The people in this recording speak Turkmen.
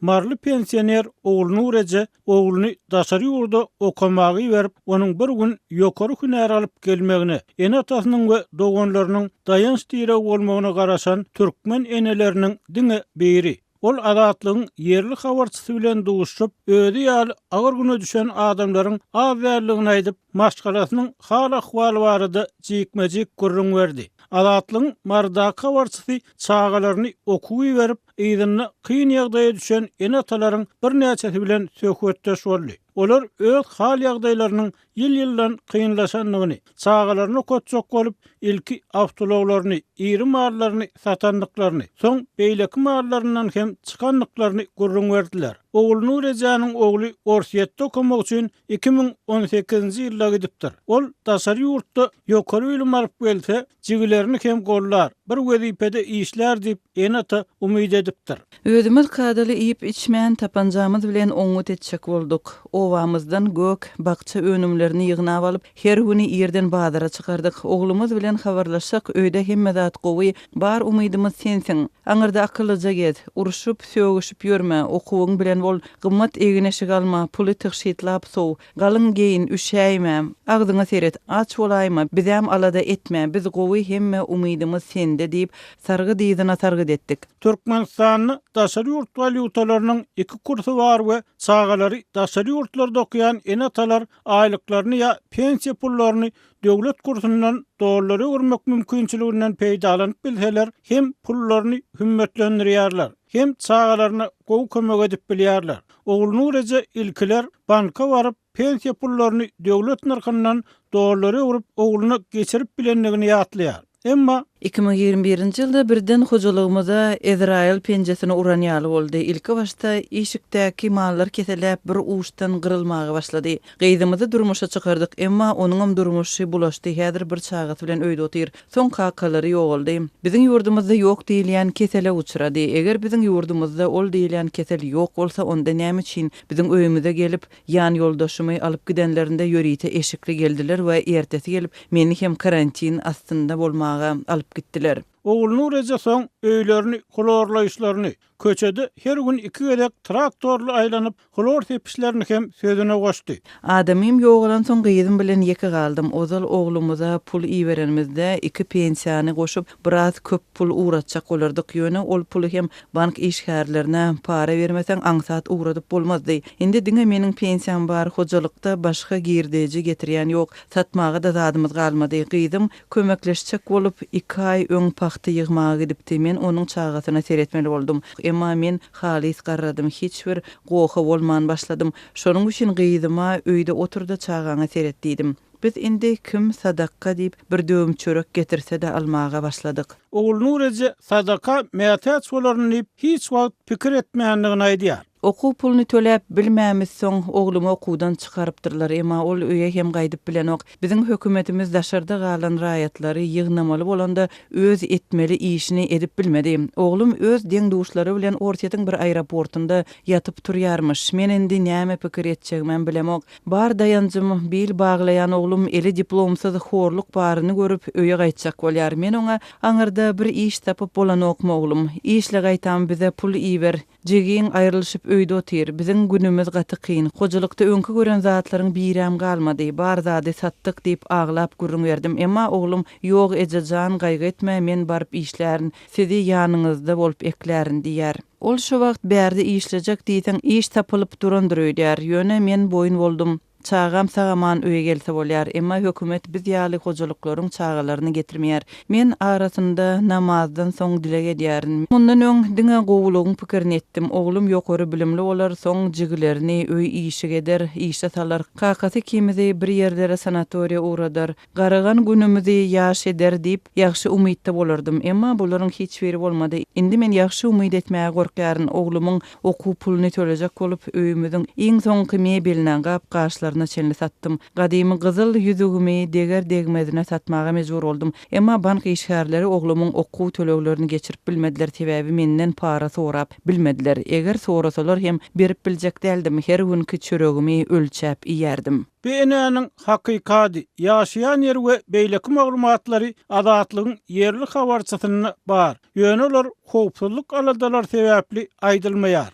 Maryly pensioner Ogulnur eje ogluny daşary ýurda okamaga iberip, onuň bir gün ýokary hünär alyp gelmegine, ene-atasynyň we doganlarynyň daýanç-diregi bolmagyna garaşan türkmen eneleriniň diňe biri. Ol Azatlygyň ýerli habarçysy bilen duşup, özi ýaly agyr güne düşen adamlaryň az däldigini aýdyp, maşgalasynyň hal-ahwaly barada jikme-jik gürrüň berdi. Azatlygyň Marydaky habarçysy çagalaryny okuwa iberip, yzynda kyn ýagdaýa düşen ene-atalaryň birnäçesi bilen söhbetdeş boldy. Olar öz hal-ýagdaýlarynyň ýyl-ýyldan kynlaşandygyny, çagalaryny okatjak bolup, ilki awtoulaglaryny, iri mallaryny satandyklaryny, soň beýleki mallaryndan hem çykandyklaryny gürrüň berdiler. Ogulnury ejäniň ogly Orsýetde okamak üçin iki müň on sekizinji ýylda gidipdir. Ol daşary ýurtda ýokary bilim alyp gelse, jigilerini hem gollar, bir wezipede işlär diýip, Ene-ata umyt edipdir. Özümiz kadaly iýip-içmän, tapanjamyz bilen oňňut etjek bolduk. Obamyzdan gök, bakja önümlerini ýygnap alyp, her güni irden bazara çykardyk. Oglumyz bilen habarlaşsak, öýde hemme zat gowy, bar umydymyz sensiň. Aňyrda akyllyja gez. Urşup, sögüşip ýörme, okuwyň bilen bol. Gymmat egin-eşik alma, puly tygşytlap sow. Galyň geýin, üşäýmäm. Agzyňa seret, aç bolaýma, bizem alada etme, biz gowy, hemme umydymyz sende, diýip, sargyt yzyna sargyt etdik. Türkmenistanda daşary ýurt walýutalarynyň iki kursy bar we çagalary daşary ýurtlarda okaýan ene-atalar aýlyklaryny ýa pensiýa pullaryny döwlet kursundan dollara öwürmek mümkinçiliginden peýdalanyp bilseler, hem pullaryny hümmetlendirýärler, hem çagalaryna gowy kömek edip bilýärler. Ogulnur eje ilkiler banka baryp, pensiýa pullaryny döwlet nyrhyndan dollara öwrüp, ogluna geçirip bilendigini ýatlaýar. Emma. Iki müň ýigrimi birinji ýylda birden hojalygymyza Ezraýyl penjesini uran ýaly boldy. Ilki başda işikdäki mallar keseläp, bir uçdan gyrylmaga başlady. Gyzymyzy durmuşa çykardyk. Emma onuňam durmuşy bulaşdy, häzir bir çagasy bilen öýde otyr. Soň kakalary ýogaldy. Biziň ýurdumyzda ýok diýilýän kesele uçrady. Eger biziň ýurdumyzda ol diýilýän kesel ýok bolsa, onda näme üçin biziň öýümize gelip, ýanýoldaşymy alyp gidenlerinde ýörite eşikli geldiler we ertesi gelip meni hem karantin astynda bolmaga alyp gitdiler? Ogulnureje soň öýlerini hlorlaýyşlaryny, Köçede her gün iki gezek traktorly aýlanyp, hlor sepişlerini hem sözüne goşdy. Adamym ýogalansoň gyzym bilen ýeke galdym. Ozal oglumyza pul iberenimizde, iki pensiýany goşup, biraz köp pul ugratjak bolardyk. Ýöne ol puly hem bank işgärlerine para bermeseň aňsat ugradyp bolmazdy. Indi diňe meniň pensiýam bar, hojalykda başga girdeji getirýän ýok. Satmaga-da zadymyz galmady. Gyzym Kömekleşjek bolup, iki aý öň pagta ýygmaga gidipdi. Men onuň çagasyna seretmeli boldum. Emma men halys garradym, hiç bir goha bolman başladym. Şonuň üçin gyzyma, Öýde otur-da, çagaňa seret diýdim. Biz indi kim sadakga diýip, bir döwüm çörek getirse-de almaga başladyk. Ogulnur eje sadaka mätäç bolaryny diýip hiç wagt pikir etmändigini aýdýar. Okuw puluny töläp bilmämis soň oglumy okuwdan çykarypdyrlar emma ol öýe hem gaýdyp bilenok. Biziň hökümetimiz daşarda galan raýatlary ýygnamaly bolanda öz etmeli işini edip bilmedi. Oglum öz deň duşlary bilen Orsýetiň bir aeroportynda ýatyp turýarmyş. Men indi näme pikir etjegimem bilemok. Bar daýanjym bil baglaýan oglum eli diplomsyz horluk baryny görüp öýe gaýtjak bolýar. Men oňa aňyrda bir iş tapyp bolanokmy oglum. Işle gaýtam bize pul iber. Jigiň aýrylyşyp öýde otyr. Biziň günümiz gaty kyn. Hojalykda öňki gören zatlaryň biräm galmady. Bar zady satdyk, diýip, aglap gürrüň berdim. Emma oglum, Ýok, eje jan, gaýgy etme, men baryp işlärin. Sizi ýanyňyzda bolup eklärin, diýýär. Ol şu wagt bärde işlejek diýseň, iş tapylyp durandyr öýdýär. Ýöne men boýun boldum. Çagam sag-aman öýe gelse bolýar, emma hökümet biz ýaly hojalyklaryň çagalaryny getirmeýär. Men arasynda namazdan soň dileg edýärin. Mundan öň diňe gowulygyň pikirini etdim. Oglum ýokary bilimli bolar, soň jigilerini öý işig eder, işe salar. Kakasy ikimizi bir ýerlere sanatoriýa ugradar. Garagan günümizi ýaş eder diýip, ýagşy umytda bolardym. Emma bularyň hiç biri bolmady. Indi men ýagşy umyt etmäge gorkýaryn. Oglumyň okuw puluny tölejek bolup, öýümiziň iň soňky mebelini, gap-gaçlaryna çenli satdym. Gadymy gyzyl ýüzügimi deger-degmezine satmaga mejbur boldum. Emma bank işgärleri oglumyň okuw töleglerini geçirip bilmediler, sebäbi menden para sorap bilmediler. Eger sorasalar hem berip biljek däldim. Her günki çöregimi ölçäp iýerdim. Bu enäniň hakykady, ýaşaýan ýeri we beýleki maglumatlary Azatlygyň ýerli habarçysynda bar, ýöne olar howpsuzlyk aladalary sebäpli aýdylmaýar.